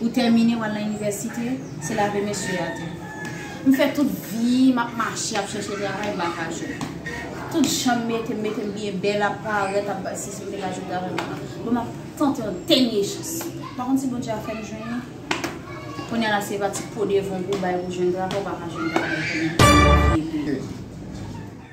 Ou tèmine w al nan inivèsite? se lave mesye a di. M fè tout vi m ap mache ap chèche travay bak a jou. Tout jan m mete m mete m byen bèl ap parèt ap bay sisi m te ka jwenn travay bak a. Bon m ap tante yon dènye chans. M pa konn si Bondye ap fè m jwenn li. Kounya la se pa ti po devon pou w bay pou jwenn travay ou pa ka jwenn travay kounya.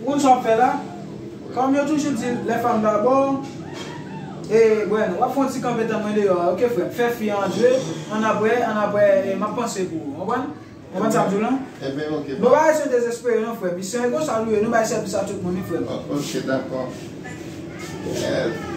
Ou konn sa wap fè la? Kòm yo toujou di lè fanm pa bo w e Bueno, wap fè yon ti kanpe tann mwen deyò a ok frè m, fè fi an antre, annapre annapre map panse pou ou konprann? Konprann sam di w lan? Enben ok frè m. Bon bagay sa yo dezespere non frè m, misyon e konsa nou ye, nou bay sèvis a tout moun wi frè m. Ok dakò Eeh.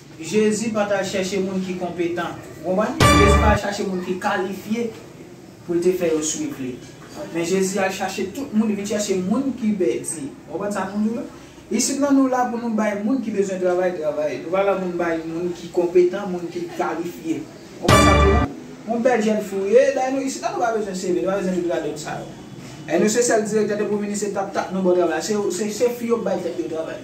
Jezi pa t al chèche moun ki konpetan. Ou konprann? Jezi pa al chache moun ki kalifye pou l te fè yo suiv li. Men Jezi al chache tout moun, li vin chèche moun ki pèdi. Ou konprann sa m di w la? Isit la nou la pou nou bay moun ki bezwen travay travay. Nou pa la pou nou bay moun ki konpetan, moun ki kalifye. Ou konprann sa m di w la? Yon bèl jèn fi w ye, dayè nou isit la nou pa bezwen CV, nou pa bezwen tout radòt sa yo. Èske nou se sèl direktè de pou vini se tap tap nou ba w travay la? Se fi yo k bay tèt yo travay.